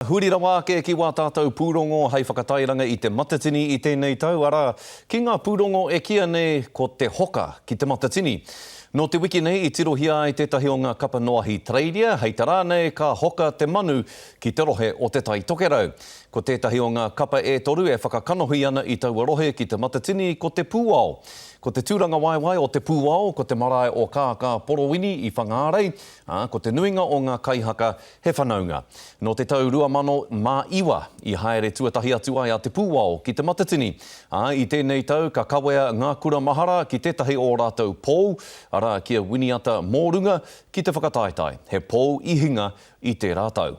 Huri rawa ake ki wā tātou pūrongo hei whakatairanga i Te Matatini i tēnei tau, arā, ki ngā pūrongo e kīa nei ko Te Hoka ki Te Matatini. Nō te wiki nei i tirohia ai tētahi o ngā kapa noahi Tareiria, hei tā rānei ka hoka te manu ki te rohe o Te Tai Tokerau. Ko tētahi o ngā kapa e toru e whakakanohi ana i taua rohe ki Te Matatini ko Te Pūao. Ko te tūrangawaewae o Te Pūao ko te marae o Kākāporowini i Whangārei, ā, ko te nuinga o ngā kaihaka He whanaunga. Nō te tau 2009 i haere tuatahi atu ai a Te Pūao ki Te Matatini, ā, i tēnei tau ka kawea ngā kura mahara ki tētahi o ō rātou pou, arā, ki a Winiata Mōrunga, ki te whakataetae, he pou i hinga i tērā tau.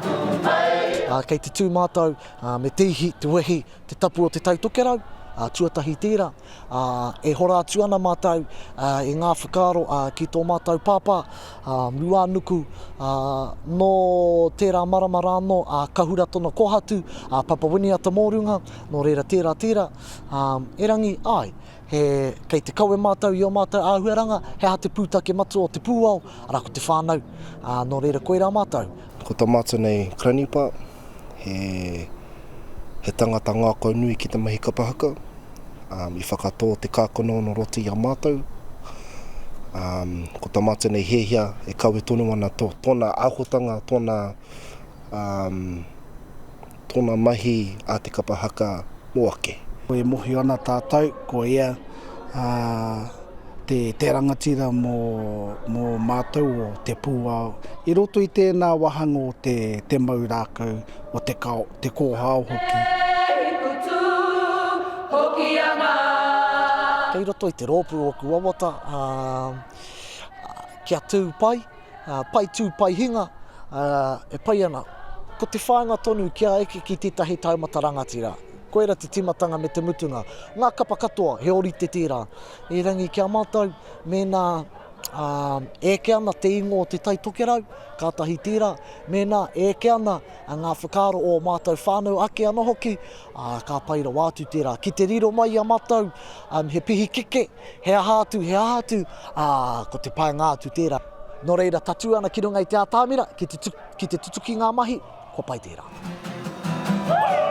Ā, kei te tū mātou, ā, me te ihi, te wehi, te tapu o Te Tai Tokerau, ā, tuatahi tērā, ā, e hora atu ana mātou, ā, i ngā whakaaro, ā, ki tō mātou Pāpā, ā, Ruānuku, ā, nō tērā marama rā anō, ā, ka hura tōna kōhatu, ā, Papa Winiata Mōrunga, nō reira tērā, tērā, ā, erangi, āe. He, kei te kawe mātou i ō mātou āhuaranga, he aha te pūtake matua o te pūao, arā ko te whānau, ā, nō reira koirā mātou. Ko tā mātou nei Kranipa, he, he tangata ngākau nui ki te mahi kapa haka, ā, i whakatō te kākanono roti i a mātou, ā, ko tā mātou nei Hiahia e kawe tonu ana tō, tōna āhuatanga, tōna, ā, tōna mahi a te kapa haka mō ake. E mōhio ana tātou ko ia te rangatira mō mātou o Te Pūao. I roto i tēnā wāhanga o te mau rākau, o te kōhao hoki. Kei roto i te rōpū ōku wawata kia tū pai. Pai tū, pai hinga, e pai ana. Ko te whāinga tonu kia eke ki tētahi taumata rangatira, koira te tīmatanga me te mutunga. Ngā kapa katoa, he ōrite tērā. Erangi ki a mātou, mēnā e eke ana te ingoa o Te Tai Tokerau, kātahi tērā, mēnā e eke ana ngā whakaaro o ō mātou whānau ake anō hoki, ka pai rawa atu tērā. Ki te riro mai i a mātou, he pihikeke, He aha atu, he aha atu, ā, ko te painga atu tērā. Nō reira, tatū ana ki runga i te atamira, ki te, ki te tutuki ngā mahi, kua pai tērā. Woohoo!